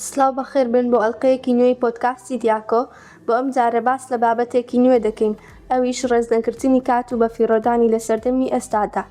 سڵاو بەخێر بێن بۆ ئەڵقەیەکی نوێی پۆدکاستی دیاکۆ، بۆ ئەم جارە باس لە بابەتێکی نوێ دەکەین ئەویش ڕێز نەگرتنی کات و بەفیڕۆدانی لە سەردەمی ئێستادا.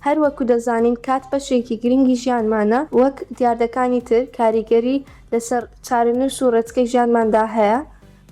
هەر وەکو دەزانین کات بەشێکی گرنگی ژیانمانە وەک دیاردەکانی تر کاریگەری لەسەر چارەنووس و ڕێچکەی ژیانماندا هەیە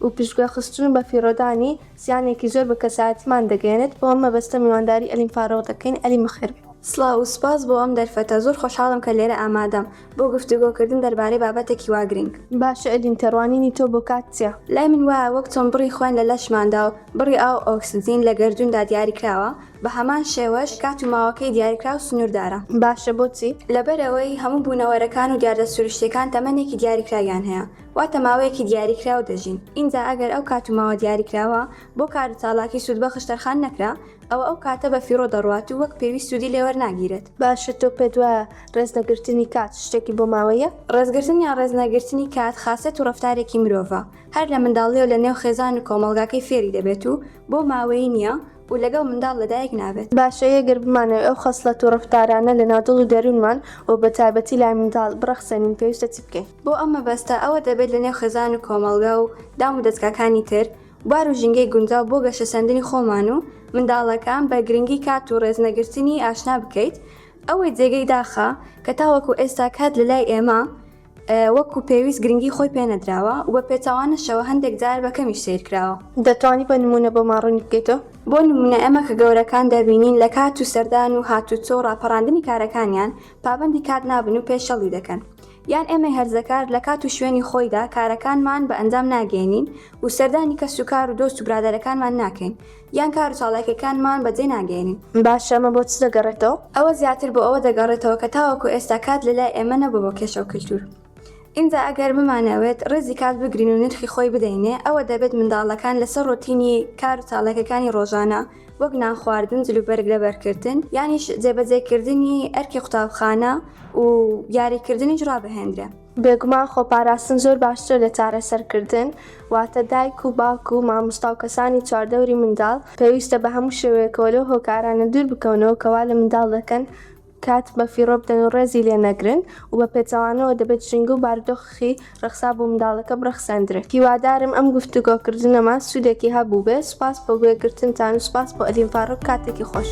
و پشتگوێ خستن و بەفیڕۆدانی زیانێکی زۆر بە کەسایەتیمان دەگەیەنێت بۆ ئەم مەبەستە میوانداری ئەلیم فاروق دەکەین ئەلیم بەخێر بێی. سڵاو و سوپاس بۆ ئەم دەرفەتە، زۆر خۆشحاڵم کە لێرە ئامادەم. بۆ گفتوگۆ کردن دەربارەی بابەتێکی وا گرینگ. باشە ئەدین تێڕوانینی تۆ بۆ کات چیە؟ لای من وایە وەک چۆن بڕی خوێن لە لەشماندا و بڕی ئاو و ئۆکسجین لە گەردووندا دیاریکراوە، بە هەمان شێوەش کات و ماوەکەی دیاریکراو و سنووردارە. باشە بۆچی؟ لەبەرئەوەی هەموو بوونەوەرەکان و دیاردە سروشتییەکان تەمەنێکی دیاریکراویان هەیە، واتە ماوەیەکی دیاریکراو دەژین، ئینجا ئەگەر ئەو کات و ماوە دیاریکراوە بۆ کار و چالاکی سوودبەخش تەرخان نەکرا، ئەوە ئەو کاتە بە فیڕۆ دەڕوات و وەک پێویست سوودی لێ وەرناگیرێت. باشە تۆ پێت وایە ڕێز نەگرتنی کات شتێکی بۆ ماوەیە؟ ڕێزگرتن یان ڕێز نەگرتنی کات خاسیەت و ڕەفتارێکی مرۆڤە هەر لە منداڵیەوە لە نێو خێزان و کۆمەڵگاکەی فێری دەبێت و بۆ ماوەیی نیە و لەگەڵ منداڵ لە دایک نابێت. باشە ئێگەر بمانەوێت ئەو خەسڵەت و ڕەفتارانە لە ناو دڵ و دەروونمان و بە تایبەتی لای منداڵ بڕەخسێنین پێویستە چی بکەین؟ بۆ ئەم مەبەستە ئەوە دەبێت لە نێو خێزان و کۆمەڵگا و دام و دەزگاکانی تر بوار و ژینگەی گونجاو بۆ گەشەسەندنی خۆمان و منداڵەکان بە گرنگی کات و ڕێز نەگرتنی ئاشنا بکەیت ئەوەی جێگەی داخە کە تاوەکو ئێستا کات لە لای ئێمە وەکو پێویست گرنگی خۆی پێ نەدراوە و بە پێچەوانەشەوە هەندێک جار بە کەمیش سەیر کراوە. دەتوانی بە نموونە بۆمان ڕوونی بکەیتەوە؟ بۆ نموونە ئێمە کە گەورەکان دەبینین لە کات و سەردان و هاتوچۆ و ڕاپەڕاندنی کارەکانیان پابەندی کات نابن و پێشێڵی دەکەن یان ئێمەی هەرزەکار لە کات و شوێنی خۆیدا کارەکانمان بە ئەنجام ناگەیەنین و سەردانی کەس و کار و دۆست و برادەرەکانمان ناکەین یان کار و چاڵاکیەکانمان بەجێ ناگەیەنین. باشە ئەمە بۆ چ دەگەڕێتەوە؟ ئەوە زیاتر بۆ ئەوە دەگەڕێتەوە کە تاوەکو ئێستا کات لە لای ئێمە نەبووە بۆ کێشە و کلتور. ئینجا ئەگەر بمانەوێت ڕێزی کات بگرین و نرخی خۆی بدەینێ ئەوە دەبێت منداڵەکان لەسەر ڕۆتینی کار و چاڵاکیەکانی ڕۆژانە وەک نان خواردن، جلوبەرگ لەبەر کردن یانیش جێبەجێ کردنی ئەرکی قوتابخانە و یاری کردنیش ڕابهێندرێ. بێگومان خۆپاراستن زۆر باشترە لە چارەسەرکردن، واتە دایک و باوک و مامۆستا و کەسانی چواردەوری منداڵ پێویستە بە هەموو شێوەیەکەوە لەو هۆکارانە دوور بکەونەوە کە وا لە منداڵ دەکەن کات بە فیڕۆ بدەن و ڕێزی لێ نەگرن و بە پێچەوانەوە دەبێت ژینگە و بارودۆخخی ڕەخسا بۆ منداڵەکە بڕەخسێندرێت. هیوادارم ئەم گفتوگۆکردنەمان سوودێکی هەبووبێت، سوپاس بۆ گوێگرتنتان و سوپاس بۆ ئەلین فاروق کاتێکی خۆش.